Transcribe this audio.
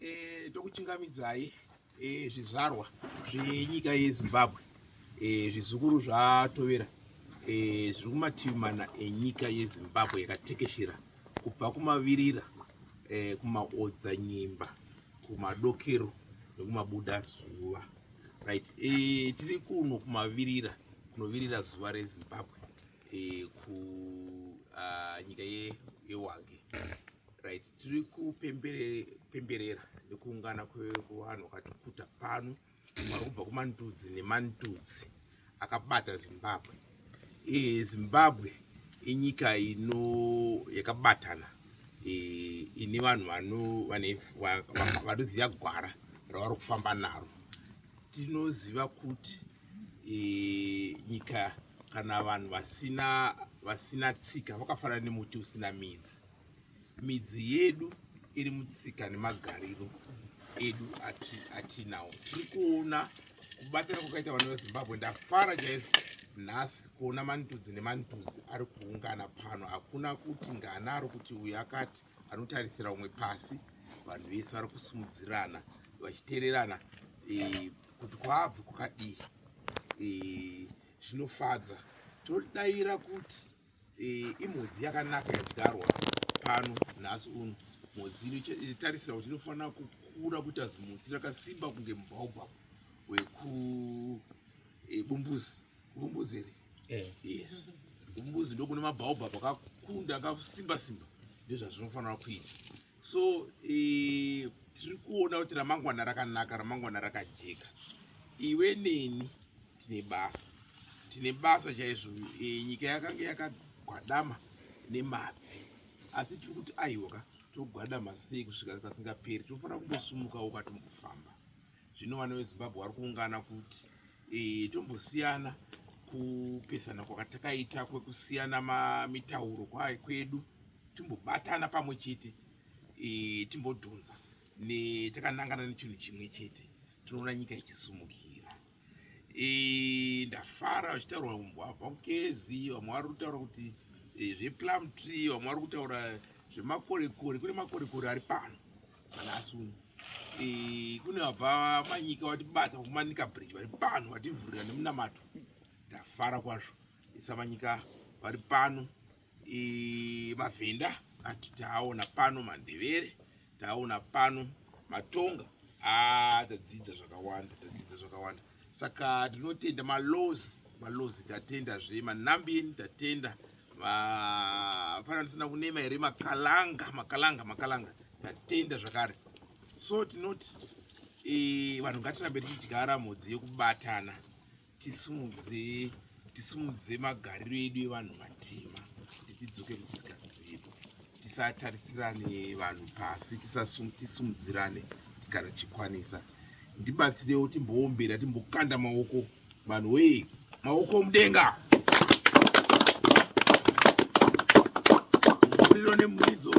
Eh, tokuchingamidzai eh, zvizvarwa zvenyika yezimbabwe eh, zvizukuru zvatovera zviri kumativi mana enyika yezimbabwe yakatekeshera kubva kumavirira kumaodza nyimba kumadokero nekumabuda zuva right tiri kuno kumavirira kunovirira zuva rezimbabwe eh, kunyika ah, uh, yewange right tiri kupemberera nekuungana kwevanhu wakatikuta pano vari kubva kumandudzi nemandudzi akabata zimbabwe e, zimbabwe inyika ino yakabatana e, ine vanhu vanoziva gwara ravari kufamba naro tinoziva kuti e, nyika kana vanhu vasina vasina tsika vakafanana nemuti usina midzi midzi yedu iri mutsika nemagariro edu atinawo tiri kuona kubatana kwakaita vana vezimbabwe ndafara chaizvo nhasi kuona mantudzi nemantudzi ari kuungana pano hakuna kuti ngana ari kuti uyu akati anotarisira umwe pasi vanhu vese vari kusimudzirana vachitererana eh, kuti kwabvi kwakadii eh, zvinofadza todaira kuti eh, imhodzi yakanaka yadyarwa pano nhasi uno mhodzi inotarisira kuti inofanira kukura kuita zimuti rakasimba kunge mubhaubha wekubumbuzi kubumbuzi here eh. yes kubumbuzi ndokune mabhaubha akakunda akasimba simba ndozvazvinofanira kuita so tiri kuona kuti ramangwana rakanaka ramangwana rakajeka iwe neni tine basa tine basa chaizvo e, nyika yakange yakagwadama nemabvi asi tiri kuti aiwa ka togwadama sei kusvika kasingaperi tofanira kungosumuka woka tombofamba zvino vana vezimbabwe vari kuungana kuti e, tombosiyana kupesana kwakatakaita kwekusiyana mitauro kwayo kwedu timbobatana pamwe chete e, timbodhunza takanangana nechinhu chimwe chete tinoona nyika ichisumukira ndafara vachitaurwa umbwavha kukezi vamwe vari kutaura kuti e, zveplum tree vamwe vari kutaura zvemakorekore kune makorekore ari pano kana asuni e, kune vabva manyika vatibata kumanika bridge vari pano vativhurira nemunamato ndafara kwazvo isava nyika vari pano e, mavhenda ati taaona pano mandevere taaona pano matonga ah, tadzidza zvakawanda tadzidza zvakawanda saka tinotenda malozi malozi tatenda zve manambini tatenda hapana tisina kunema here makalanga makalanga makalanga tatenda zvakare so tinoti e, vanhu ngatirambe tichidyara mhodzi yekubatana tisimudze tisimudze magariro edu evanhu vatema tidzoke kutsika dzedu tisatarisirane vanhu pasi tisumudzirane kana chikwanisa ndibatsirewo timboombera timbokanda maoko vanhu wee maoko mudenga muriro nemuridzo